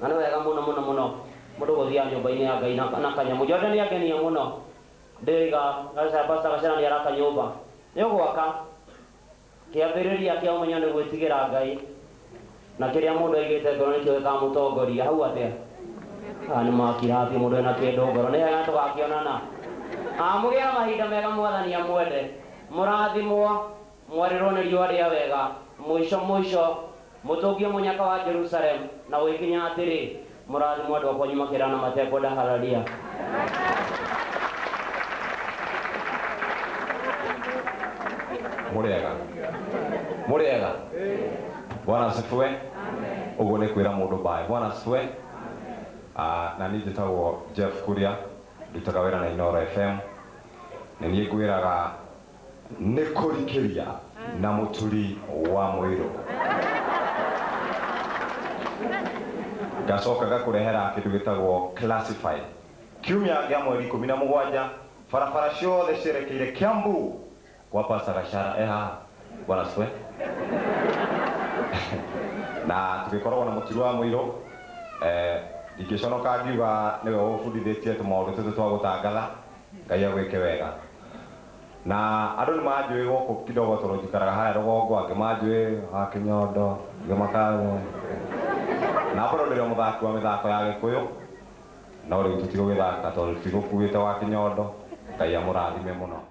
Na nĩ wega mũno mũno mũno mũndũ gũthiaga nyũmba-inĩ ya Ngai na na kanyamũ. Jordan nĩ angenia mũno. Ndĩroiga Gacaa, Pastor Gacana nĩ araka nyũmba. Nĩ ũgwaka. Kĩambĩrĩria kĩa ũmenyo nĩ gwĩtigĩra Ngai. Na kĩrĩa mũndũ aigĩte ngoro nĩkĩo gĩkamũtongoria. Hau atĩa? Aya nĩ makira biũ, mũndũ ena kĩndũ ngoro. Nĩ hega tũgakĩonana. Mũgĩe na mahinda mega Mwathani amwende. Mũrathimwo. Mwarĩrwo nĩ riũa rĩa wega. Mũico mũico, mũtũngie mũnyaka wa Jerusalemu na ũgĩkinya atĩrĩ, Mũrathimwo andũ a kwanyu makĩrana matekwenda Hararia. Mũrĩega? Mũrĩega? Bwana asifiwe. Ũguo nĩ kwĩra mũndũ bye. Bwana asifiwe. Ah, na niĩ njĩtagwo Jeff Kuria, ndutaga wĩra na Inooro FM. Nĩ niĩ ngwĩraga Nĩ kũrikĩria na mũturi wa mũirũ. Ngacoka ngakũrehera kĩndũ gĩtagwo classified. Kiumia gĩa mweri ikũmi na mũgwanja, barabara ciothe cierekeire Kiambu gwa Pastor Gachara e haha. Bwana asifiwe. Na tũgĩkoragwo na mũturi wa mũirũ. Eh, Ndingĩconoka ngiuga nĩwe ũbundithĩtie tũmaũndũ tũtũ twa gũtangatha. Ngai agwĩke wega. Na andũ nĩ manjũĩ gũkũ kidogo tondũ njikaraga harĩa rũgongo, angĩ manjũĩ a Kĩnyondo, angĩ makanja. Na bado ndĩrĩ o mũthaki wa mĩthako ya Gĩkũyũ, no rĩu tũtigũgĩthaka tondũ tũtigũkuĩte wa Kĩnyondo. Ngai amũrathime mũno.